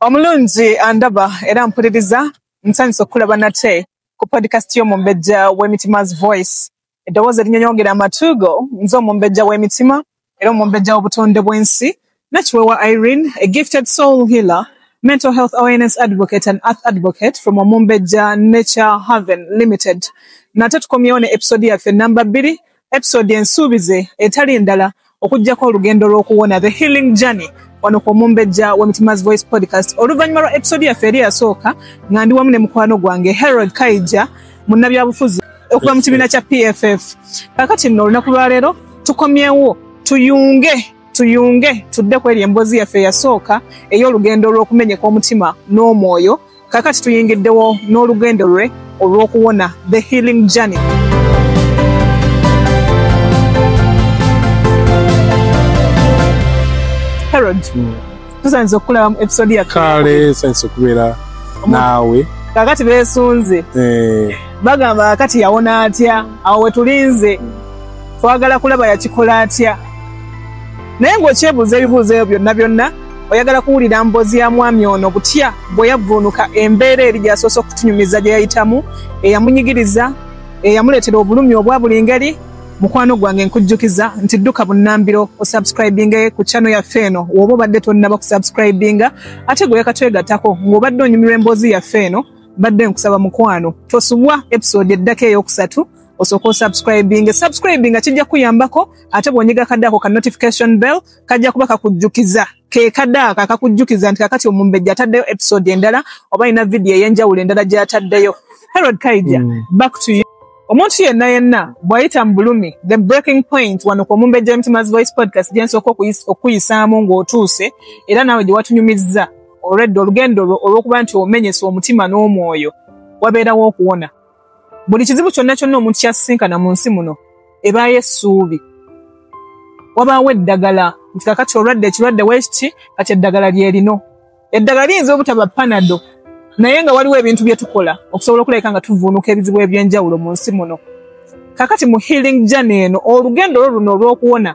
omulungi andaba era mpuliriza nsanyusa okukulaba nate ku podcast y'omumbejja w'emitima's voice eddoboozi erinyonyongera amatuugo nze omumbejja w'emitima era omumbejja w'obutonde bw'ensi nakiwewa irene a gifted soul healer mental health awareness advocate and earth advocate from omumbejja nature haven limited nate tukomyewo ne episode yaffe namba bbiri episode ensuubize etali ndala okujjako olugendo lw'okuwona the healing journey wano ku omumbejja wa mitima's voice podcast oluvannyuma lwa episode yaffe eri yasooka nga ndi wamu ne mukwano gwange herod kaija munnabyabufuzi okuva mu kibiina kya pff kakati nno olunaku lwaleero tukomyewo tuyunge tuyunge tudde ku eri emboozi yaffe eyasooka ey'olugendo lw'okumenyeka omutima n'omwoyo kakati tuyingiddewo n'olugendo lwe olw'okuwona the healing journey herod hmm. tusanze okukulaba mu episode ya kale sanze okubeera naawe kakati beesunze eh. bagamba kakati yawona atya awo wetulinze hmm. twagala kulaba yakikola atya naye ng'okyebuuza ebibuuzo ebyo byonna byonna oyagala kuwulira mbozi ya mwami ono butya bwe yavvuunuka embeera eri gyasoose okutunyumiza gye yayitamu eyamunyigiriza eyamuleetera obulumi obwa buli ngeri mukwano gwange nkujjukiza nti dduka bunnambiro osubscribinge ku chano yaffe eno woba obadde tonnaba kusubscribinga ate gwe yakatwegatako ng'obadde onyumirwa emboozi yaffe eno mbadde nkusaba mukwano tosubwa episode eddako eyokusatu osooka osubscribinge subscribinga kijja kuyambako ate bw'onyiga kadde ako ka notification bell kajja kuba kakujjukiza kekadaako akakujjukiza nti kakati omumbejja ataddeyo episode endala oba alina vidiyo ey'enjawulo endala gy'ataddeyo herod kaija mm. back to you omuntu yenna yenna bw'ayita mu bulumi the breaking point wano ku omumbejja w'emitima's voice podcast gye nsooka okukuyisaamu ng'otuuse era naawe gye watunyumizza olwedda olugendo lwo olw'okuba nti omenyesa omutima n'omwoyo wabeerawo okuwona buli kizibu kyonna kyonna omuntu kyasisinkana mu nsi muno ebaayo essuubi wabaawo eddagala nti kakati olwadde ekirwadde wekiti kati eddagala lyerino eddagala liyinza obutaba panado naye nga waliwo ebintu bye tukola okusobola okulabika nga tuvuunuka ebizibu eby'enjawulo mu nsi muno kakati mu healing jane eno olugendo lwo luno olw'okuwona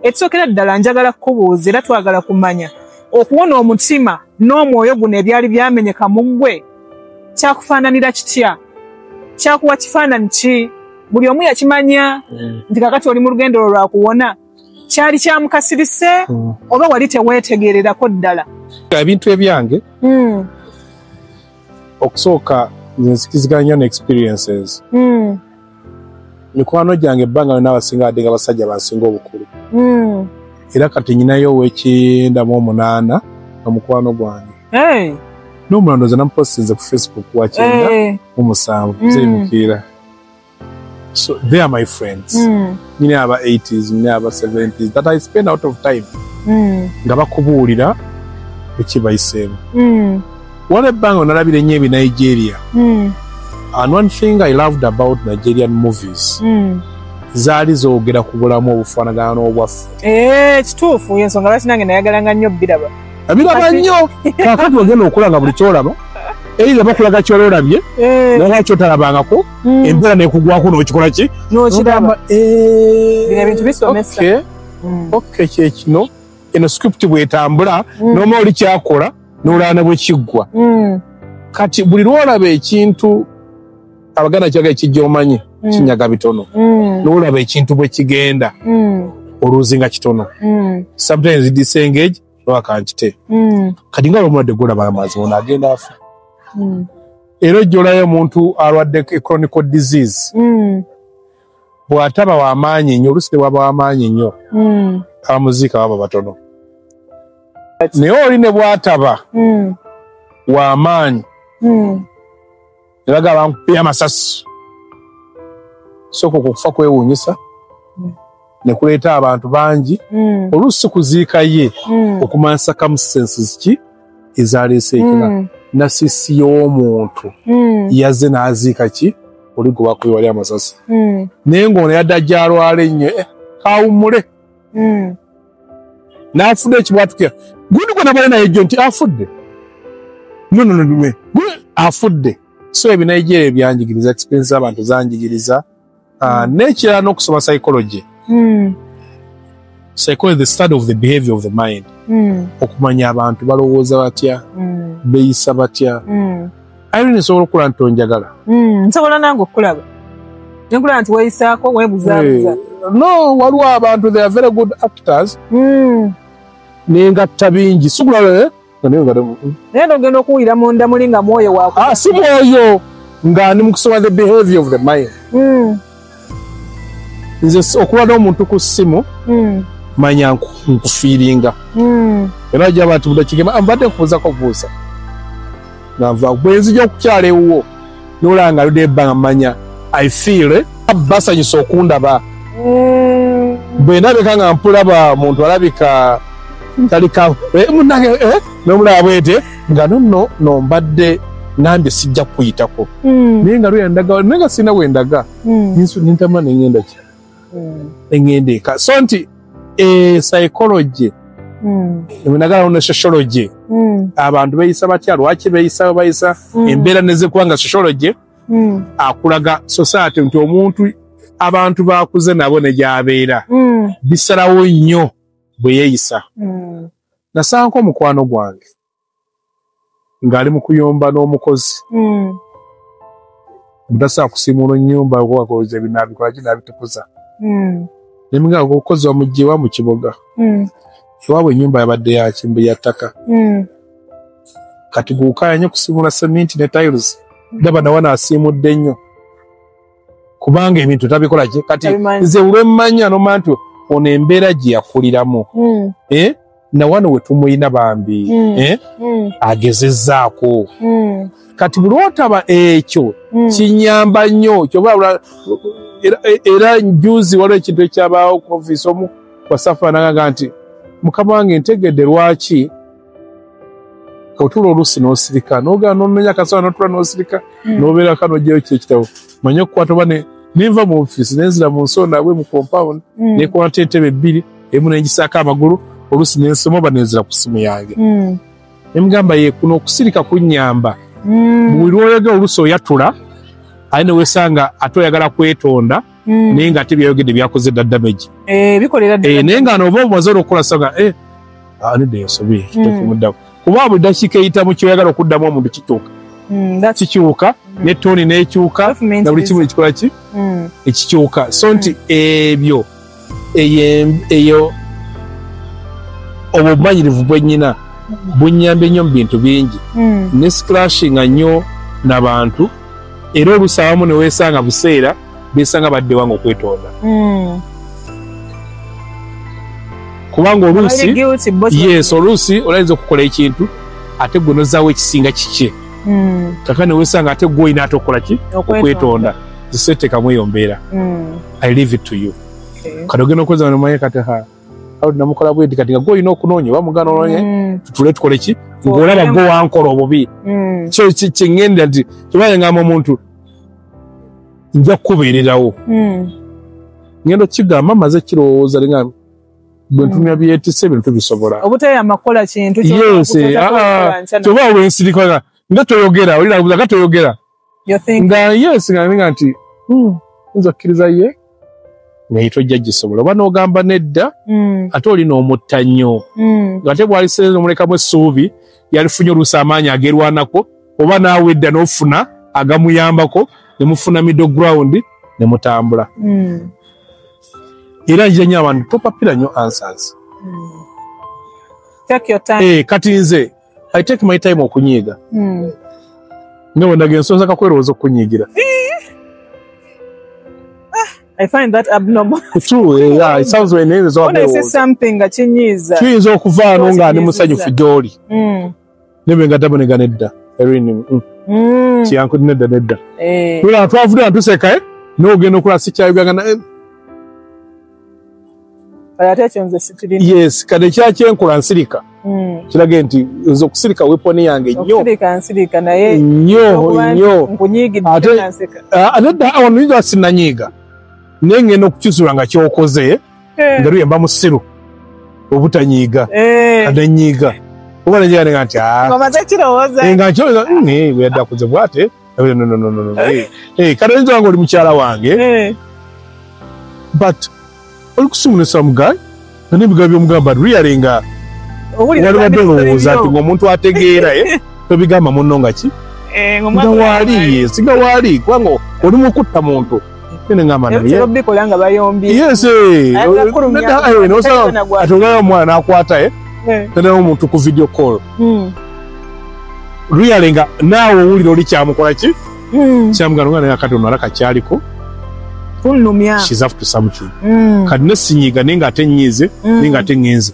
ekisookera ddala njagala kukubuuza era twagala kumanya okuwona omutima n'omwoyo guno ebyali byamenyeka mu ggwe kyakufaananira kitya kyakuwa kifaananyi ki buli omu yakimanya mm. nti kakati oli mu lugendo lwo lwakuwona kyali kyamukasirise mm. oba wali teweetegererako ddala ebintu ebyange mm. okusooka nzikiziganya ne experiences mikwano gyange ebbanga lyona abasinga adde nga basajja bansinga obukulu hmm. era kati nyinayo owekindamu omunaana nga mukwano gwange n'omulando ze namupostinze ku facebook wakyenda mu musanvu zemukiira so they are my friends mm. nyini aba 80s nyini aba 70s that i spend out of time mm. nga bakubuulira ekibayiseemu mm. wala ebbanga onalabira ennyo ebi nigeria mm. and one thing i loved about nigerian movies mm. zaali zogera ku bulamu obufaanagana n'obwaffe eh, kituufu e, ensonga lwaki nange nayagalanga nnyo biraba biraba nnyo kakati ogenda okulanga buli kyolaba eira bakulaga kyololabye eh. naye kyotalabangako mm. empera nekugwako nokikola ki nokiraba eh, bino ebintu bisomesa okay. mm. okay, kyekino eno script bwetambula mm. noma oli kyakola nolaana bwekiggwa mm. kati buli lwolaba ekintu abaganda kyaga ekijja omanyi mm. kinyaga bitono mm. nolaba ekintu bwekigenda mm. oluuzi nga kitono mm. sometimes disengage oba kankite mm. kati nga lomulwadde golaba amazi ono agenda afa mm. era ojjolayo omuntu alwadde e chronical disease mm. bw'ataba w'amaanyi nnyo olusi tebwaba w'amaanyi nnyo mm. abamuziika baba batono naye oli ne bw'ataba mm. w'amaanyi mm. ne bagamba bankubye amasasi sooka okwo okufa kwewuunyisa mm. ne kuleeta abantu bangi mm. oluusi kuziika ye mm. okumanya circumstances ki ezaaleese ekina mm. nasisi y'omuntu mm. yazze n'aziika ki oli gwe bakubi wali amasasi mm. naye ng'ono yadda gyalwala ennyo eh, kawummule hmm. n'afudde ekibwatukira gundi gwe nabale naye jjo nti afudde nononodume afudde so ebinaijeria ebyanjigiriza experience z'abantu zanjigiriza ah, hmm. n'ekirala n'okusoma psychology hmm. psychology the study of the behavior of the mind okumanya abantu balowooza batya beyisa batya Irene nsobola okula nti onjagala. Mm, nsobola nange okulaba. Nkula nti weyisako webuza hey. buza. No, waliwo abantu they are very good actors. Mm. Nengatta bingi. Sikula eh? Nayo ngada. Mm. Naye ndogenda okuwira mu ndamulinga mwoyo wako. Ah, si mwoyo. Nga ndi mukusoma the behavior of the mind. Mm. nze okuba n'omuntu ku ssimu hmm. manya nkufiiringa hmm. era jaba nti budakigema mbadde nkubuuzako buuza nava bwenzija okukyala ewuwo nolanga luda ebbanga manya i feel eh, basanyusa okundaba hmm. bwe ndabika nga mpulaba muntu alabika talika eh, munange eh, nomulaba bwete nga nonno no mbadde nambye sijja kukuyitako hmm. naye nga lweyandaga naye nga sirina wendaga hmm. ninsu nintama nengenda ki hmm. nengenda eka so nti e, psychology nagala ono sociology abantu beyisa batya lwaki beyisa bayisa embeera nezikuba nga sociology akulaga society nti omuntu abantu bakuze nabo negyabeera bisalawo nnyo bweyeyisa nasanko omukwano gwange ng'ali mu kuyomba n'omukozi hmm. mutasa akusimuula ennyumba okoze binabikola ki nabitukuza hmm. nemugamba okukozi wamugyewa mu kiboga hmm. ewaabwe ennyumba yabadde yakimbu ya ttaka kati guukaya nyo kusimuula seminti ne tiles ndaba nawa nasiimudde nnyo kubanga ebintu tabikola ki kati Tabimanyi. nze lwemmanya noma nti ono embeera gye yakuliramu Mm, eh? na wano we tumulina bambi Mm. eh? mm, agezezzaako mm, kati buli lwotaba ekyo mm. kinyamba nnyo kyoba lwa- era, era njuzi waliwo ekintu ekyabaawo ku ofiisi omu wasafa nagaga nti mukama wange ntegedde lwaki otula olusi nosirika nogana nononya kasola notula nosirika hmm. nobeera kano jeyo kyekitabo manye okukwata oba nenva mu ofisi nenzira mu nsonda abwe mu compound hmm. nekwata entebe ebbiri emu nengisako amagulu olusi nensoma oba nenzira ku simu yange hmm. nemugamba ye kuno okusirika kunyamba buli lwoyogera olusi oyatula aye newesanga ate oyagala kwetonda mm. naye nga ate byayogedde byakoze dda damage eh, eh, naye nga noova obumaze olwokukola saga eh, anidde ah, ensobi mm. tekumuddamu kuba buli dakiika eyitamu kyoyagala okuddamu omuntu kikyuka mm, kikyuka ne toni nekyuka na buli kimu ekikola ki ekikyuka so nti ebyo eyo obumanyirivu bwenyina bunyambye nnyo mu bintu bingi ne sclashinga nnyo nabantu era olusawamu newesanga buseera besanga badde wange okwetonda mm. kubanga oluusi yes oluusi olayinza okukola ekintu ate gwe nozaawo ekisinga kikye mm. kaka newesanga ate gwe olina ate okukola ki okwetonda zisetekamu eyo mbeera mm. i leave it to you okay. kati ogenda okweza nomaye kati ha namukola bwedi kati nga gwe olina okunoonya oba mugana ononye mm. tutule tukole ki ngaolaba gwe wankola obubi mm. kyo kyeŋenda nti kyobaye ngamba omuntu nja kukubeererawo hmm. ngenda okigamba maze kirowooza linga hmm. bwentumya byetise bintu bisobola obutayamba kukola kintu kyoba wensirikana nga toyogera olirabuza nga toyogera nga yes nga ninga nti hmm, nza kukkiriza ye naye tojja gisobola oba n'ogamba nedda mm. ate oli n'omutta nnyo mm. ngate bwaliseeza omulekamu essuubi yalifunye oluusi amaanyi agerwanako oba naawe edda n'ofuna agamuyambako ne mufuna middle ground ne mutambula mm. era njira nyo abantu topapira nyo answers mm. Take your time. Hey, eh, kati nze i take my time okunyiiga hmm. nyowe ndaga ensonzi akakwerowooza okunyiigira I find that abnormal. True, eh, yeah, it sounds when it is all When I say something nga kinyiiza. Kiyinza okuvaano nga ndi musanyufu gy'oli. Hmm. Nebe nga ddabo negana edda. Erin. Hmm. Hmm. Kiyanku nedda nedda. Eh. Tula twavudde antuseka eh. N'ogenda okulaba sikyayoganga naye. yes kade kyakyenkola nsirika hmm. kirage nti nze okusirika weponi yange nyonyonyoawanuyinza sinanyiiga naye ngenda okukyusirwa nga kyokoze eh. nga luyemba musiru obutanyiiga eh. kade nyiiga oba nenyiga nenga nti ah. nga nkyoweza hmm, eh, weyadde akuze bwate Eh, no, no, no, no, no. Eh, eh, kati oyinza wanga oli mukyala wange eh. but oli kusimu ne some guy nga nebigambo byomugamba really nga walibadde olowooza nti ngaomuntu ategeera eh? tobigamba munno nga ki eh, nga waali singa waali kubanga oli mukutta muntu atongerayo omwana nakwata ye eh. tanayo omuntu ku video call hmm. ruyale nga naawe owulira oli kyamukola ki hmm. kyamugana omwana yakati onara kakyaliko hmm. kati nesinyiga naye nga ate nyiize naye nga ate ngenze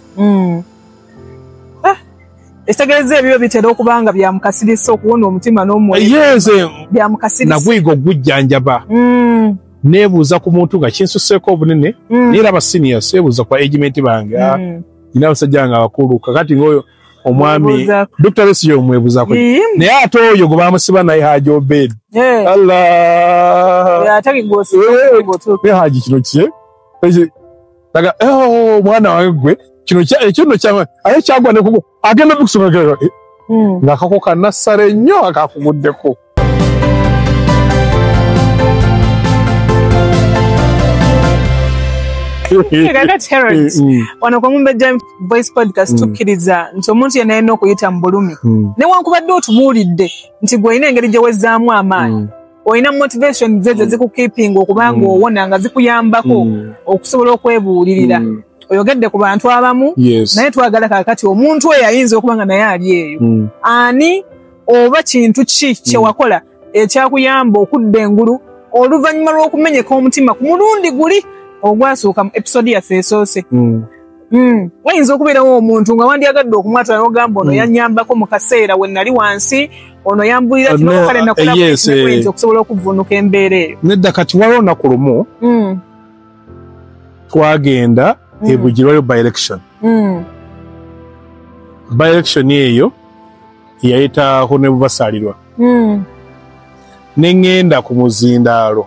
ekitegeeza ebyo bitera okuba nga byamukasirisa okuwona omutima n'omwoyoyenze byamukasirisa naguyiga okugujjanjaba mm. nebuuza ku muntu nga kinsuseeko obunene mm. naye era abasinia sebuuza kwa egimenti bange ah, mm. ina abasajja nga abakulu kakati ngaoyo omwami dokita besiyo omwebuzako naye ate oyo gwe bamusiba naye haji obed eh. allah eh, eh, haji kino kye daga oh mwana wange gwe kino kya ekyo no kya aye kyagwa ne kugo agenda bikusoma kero eh, hmm. nga kako kana sare nyo akakugudde ko wano kwemumbejja voice podcast hmm. tukkiriza nti omuntu yena yena okuyita mu bulumi hmm. newankubadde otubuulidde nti gweolina engeri gyewezzaamu amaanyi olina motivation zezo mm. zikukeepinga okuba nga mm. owona nga zikuyambako mm. okusobola okwebuulirira mm. oyogedde ku bantu abamu yes. naye twagala kakati omuntu oyo ayinza okuba nga naye ali eyo mm. ani oba kintu ki mm. kyewakola mm. ekyakuyamba okudda engulu oluvannyuma lw'okumenyeka omutima ku mulundi guli ogwasooka mu episode yaffe esoose mm. Hmm. wayinza okubeerawo omuntu nga wandyagadde okumwatula nogamba ono hmm. yanyambako mu kaseera we nali wansi ono yambulira kinokale ah, nakulayinza eh, eh. okusobola okuvunuka embeera eyo nedda kati waliwo olunaku lumu hmm. twagenda ebugirwayo by election by election eyo yayita honebubasaalirwa neŋŋenda ku muzindaalo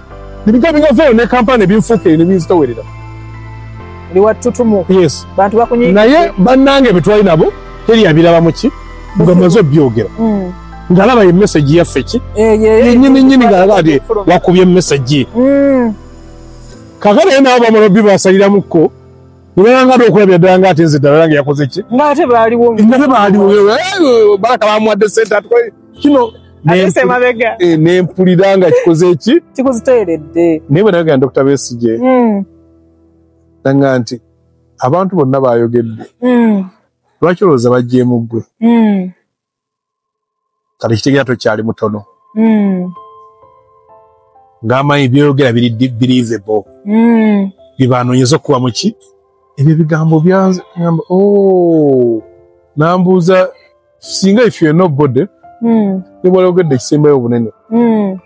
Ebintu ebingavaayo ne kampala ne binfuuka eyo ne binzitowerera. Oli wa ttutumu. Yes. Bantu bakunyiiga. Naye bannange be twali nabo teri yabirabamu ki nga maze obyogera. Mm. Ngalaba ye message yaffe ki? Eh, Yennyini nnyini ngalaba ati wakubye message. Mm. Kakale naye nabo bamala obbi basaliramuko. Nibangade okulabya ddala nga ate nze ddala nange yakoze ki? Nga ate baaliwo. Nga ate baaliwo. Balaka bamuwadde sente atukoye. kino nempulira eh, nga kikoze eki kikuziteeredde naye bwe nayogera dokita besigye hmm. nanga nti abantu bonna bayogedde hmm. lwaki olowooza bajjeemu ggwe hmm. kati kitegera tokyali mutono ngaamanyi byoyogera biri believable byebanonyeza okuba muki ebyo ebigambo byanze oh, nambuuza singa if you're nobody mm. nebwali ogedde ekisembayo obunene mm.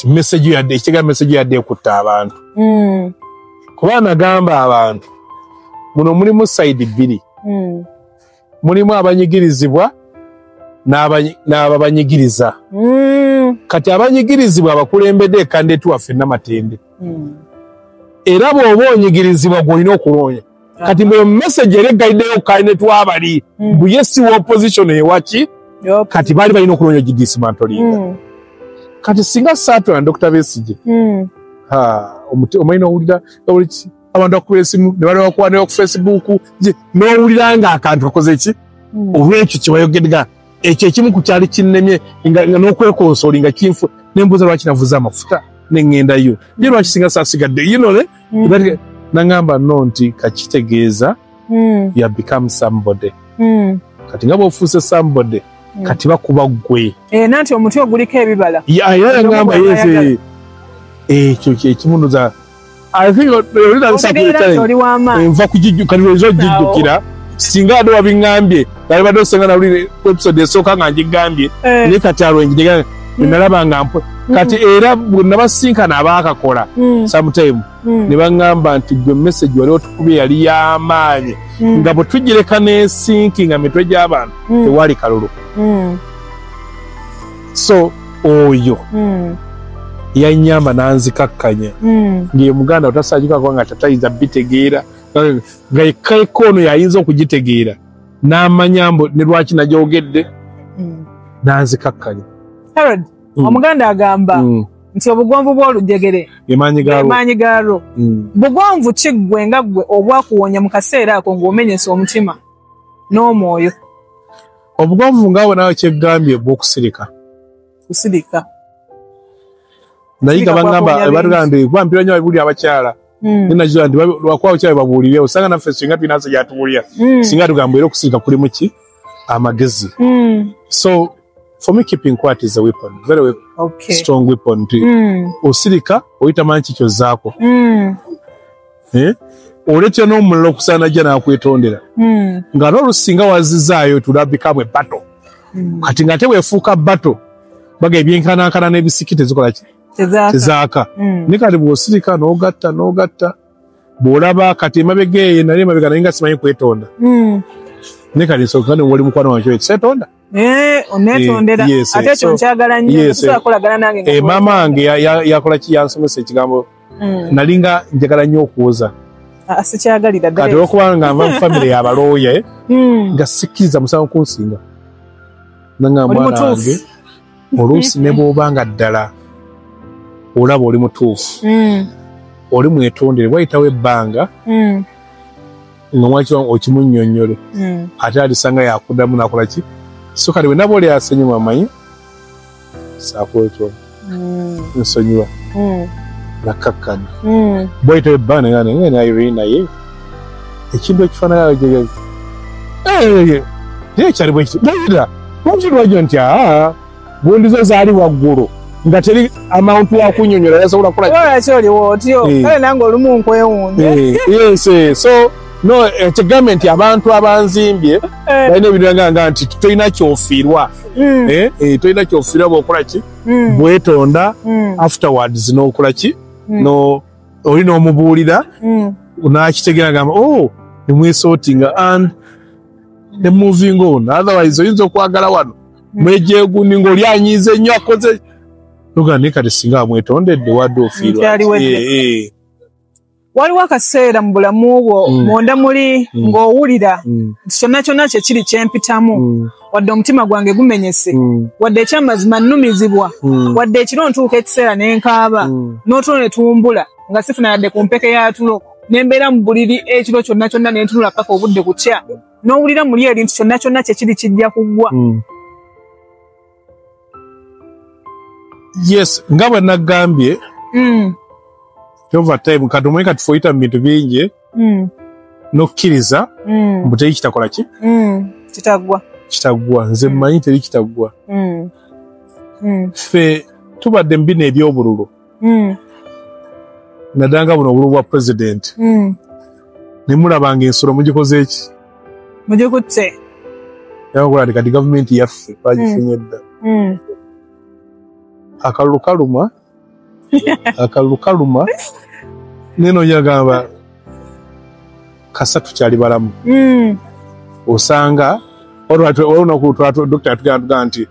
message yadde ekitega message yadde ekutta abantu mm. kuba anagamba abantu muno mulimu side bbiri mm. mulimu abanyigirizibwa n'ababanyigiriza mm. kati abanyigirizibwa abakulembedde ekandeti waffe namatende mm. era bw'oba onyigirizibwa gw'olina okuloonya kati mweyo message eri eggalideyo kaine twabali mm. mbu ye si wa opposition ewaki kati baali balina okunoonya ogidisimantoliinga mm. kati singa saatula ne dokita besije mm. omanyi nowulira oliki abantu bakuba esimu ne balibakwanira ku facebook nowulira nga akantu kakoze ki olwekyo kyebayogedga ekyo ekimu ku kyali kinnemye nga n'okwekonsooli nga kinfu nembuuza lwaki navuze amafuta ne ŋŋendayo ye lwaki singa saasigadde yinole Mm. Bati- nangamba no nti kakitegeeza Mm. you have become somebody Mm. kati nga bwofuuse somebody Mm. kati bakuba gwe Eh, nanti omuti oguliko ebibala Ya- era Ndomo nangamba bw'aba yes ayagala. eh, ekyo kyekimunuza i think olina otegeera nti oli w'amaanyi enva kugijju kati lweza ogijjukira singa ade wabiŋambye bali badde osenga na ulire episode esoka nga njigambye eh. ne kati aro njigambye mm. nalaba nga mpo mm. kati era bonna basinka na baka kola mm. sometime mm. ne bangamba nti gwe message wali otukubye yali ya maanye mm. nga butujireka ne sinki nga mitwe gya bantu mm. tewali kalulu mm. so oyo mm. yanyamba nanzikakkanya mm. ngiye muganda otasajukako nga tatayinza bitegeera nga yekkaeko ono yayinza okugitegeera n'amanya mbu ne lwaki nagyogedde Mm. n'anzikakkanya Harold, Mm. omuganda agamba Mm. nti obugonvu bw'olujegere emaanyi gaalwo emaanyi gaalwo Mm. bugonvu ki ggwe nga ggwe obwakuwonya mu kaseera ako ng'omenyese omutima n'omwoyo obugonvu nga bwe nawe kyeggambye bw'okusirika kusirika naye nga bagamba batugamba nti kuba mpira nyo babibulira abakyala hmm. nenakizwa nti lwakuba abakyala babuulire osanga naffe singa tulina nsa gyatubuulira hmm. singa tugamba era okusirika kulimu ki amagezi hmm. so for me keeping quiet is a weapon very weapon, okay. strong weapon nti osirika oyitamanyi kikyozaako eh? oletya n'omulala okusaana jja n'akwetondera hmm. nga n'olusinga wazizaayo tulabikamu ebato hmm. kati nga ate wefuuka bato baga ebyenkanankana n'ebisiki tezikola ki tezaaka hmm. ne kati bw'osirika n'ogatta n'ogatta bw'olaba kati emabega eyo nali emabega naye nga simanyi kwetonda ne kati nsooka ne wali mukwano wange ekyetonda Eh, onetondera eh, yes, ate ekyo so, nkyagala nnyo yes, tusobola eh. kolagana nange eh, maama wange yakola ki yansomesa ekigambo mm. nalinga njagala nnyo okuwoza ah, sikyagalira kati olwokuba nga nva mu famire yabalooye hmm. nga sikkiriza musango kunsinga nanga mwana wange oluusi ne bwoba nga ddala olaba oli mutuufu hmm. oli mwetondere wayitawo ebbanga hmm. nga mwaki wange okimunyonyole mm. ate alisanga yakudamu nakola ki so kati wenaba oli asonyiwa amanyi sakwetwa mm. nsonyiwa mm. nakakkana mm. bwaita ebana nga naye na irene naye ekintu ekifanagala jegezi naye ekyali bwekiti naira lwaki lwajo nti aa gundi zo zaali waggulu nga teri amount wa kunyonyola yasobola kula wala choli wotyo eh. kale nango lumu nkwewunye eh, yes eh. so no ekigambe nti abantu abanzimbye balina ebiranga nga nti tolina kyofiirwa mm. tolina kyofiirwa bwokola ki mm. bwetonda mm. afterwards nokola ki no oli nomubuulira nakitegera gamba o oh, nemwesotinga and nemoving on otherwise oyinza okwagala wano mwejegundi ngaoli anyiiza ennyo akoze oga naye kati singa amwetondedde wadde ofiirwa waliwo akaseera mu bulamu bwo mm. munda muli mm. ng'owulira mm. nti kyonna kyonna kyekiri kyempitamu wadde omutima gwange gumenyese wadde ekyamazima nnumizibwa wadde ekiro ntuuka ekiseera ne nkaaba n'otulo ne tuwumbula nga sifuna yadde ku mpeke ya tulo ne mbeera mu buliri ekiro kyonna kyonna ne ntunula paka obudde kukya n'owulira muli ebintu kyonna kyonna kyekiri kijja kuggwa hmm. yes nga bwe naggambye hmm. overtime kati omanyi kati foyita mu bintu bingi hmm. n'okkiriza mbu teri kitakola ki kitaggwa kitaggwa nze mmanyi teri kitaggwa ffe tubadde mu bino eby'obululu mm. nadanga buno obulu bwa president mm. nemulabanga ensolo mugikoze eki mugikutte yakola kati gavumenti yaffe bagifunye dda mm. mm. akalulu kaluma akalulu kaluma neno yagamba kasatu kyali balamu mm. osanga olunaku dokita yatugamba nti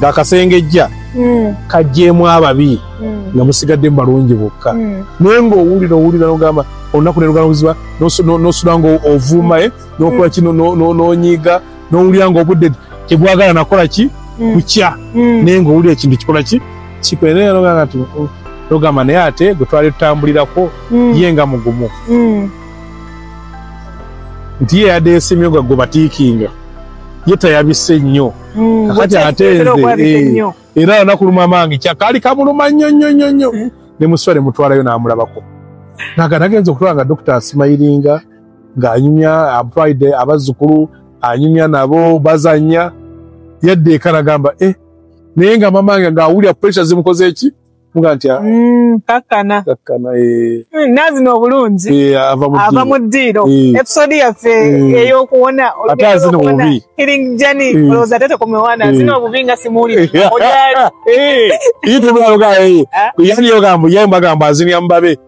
ng'akasengejja mm. kajjeemu ababi mm. nga musigadde mu balungi bokka mm. naye ng'owulira owulira nogamba olunaku nerugaluziba nosula nga ovuuma e nokola kino nonyiiga nowulira nga obudde tebwagala nakola ki kukya naye ng'owulira ekintu kikola ki kikwenogamba ti oh, nogamba naye ate gwe twali tutambulirako ye nga mugumu nti ye yadeesimyo gagwe batiikinga ye tayabise nnyo Mm, kakati bwekya- ate kitera nze okwabika eh, ennyo. era nakuluma amange kyakaali kamuluma nnyo nnyo nnyo nnyo Mm. ne muswa ne mutwalayo n'amulabako naga nagenza okutwala nga dokita asimayiringa ng'anyumya ampulide abazzukulu anyumya nabo bazannya yadda eka nagamba eh naye nga mamange ng'awulira puresha zimukoze eki muga nti ah, mm, kakkana kakkana eh. mm, nazino obulungi eh, ava mu ddiiro eh. episode yaffe eyokuwona ate azina obubi healing journey olowooza ate tekomewana azina obubi nga simuwulire ojaali ye tebulaluga yani yogamba ye mbagamba azinia mubabe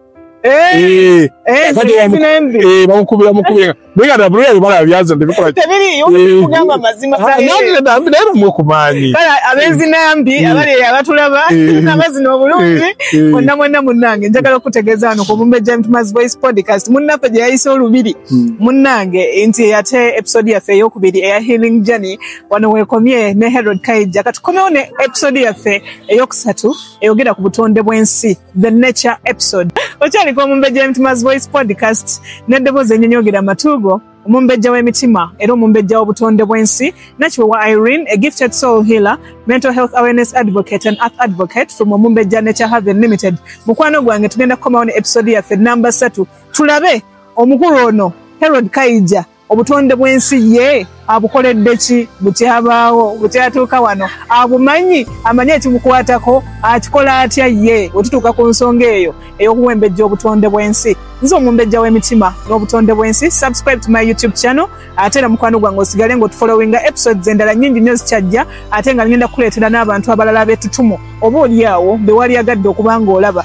Eh, eh, Kati zino bamu- zinembi. eh, bamukubira mukubira naye nga nabulira bibala byaza ndebikola Tebiriyo, kugamba amazima gali. naye bamwe kumaanyi Kale abezinambi Eh. abali eyo abatulaba Eh. nabazina obulungi Eh, eh. mwonna mwonna munnange njagala okutegeeza wano ku mumbe gentmas voice podcast munnaffe gye yayise olubiri Hmm. munnange nti ate episode yaffe eyokubiri eya healing journey wano weekomye ne herod kaija katukomewo ne episode yaffe eyokusatu eyogera ku butonde bw'ensi the nature episode okyaliko omumbejja w'emitima's voice podcast n'eddoboozi enyenyogera amatuugo omumbejja w'emitima era omumbejja w'obutonde bw'ensi nakiwewa irene a gifted soul healer mental health awareness advocate and earth advocate from omumbejja nature haven limited mukwano gwange tugenda kukomawo ne episode yaffe namba satu tulabe omukulu ono herod kaija obutonde bw'ensi ye abukoledde ki bukyabaawo bukyatuuka wano abumanyi amanyi ekibukwatako akikola atya ye wetutuuka ku nsonga eyo ey'okuwembejja obutonde bw'ensi nze omumbejja w'emitima n'obutonde bw'ensi subscribe to my youtube channel ate era mukwano gwange osigale ngaotufolowinga episodes endala nyingi nnyo zikyajja ate nga ngenda kukuleetera n'abantu abalala b'etutumu oba oli awo bewaliagadde okuba ng'olaba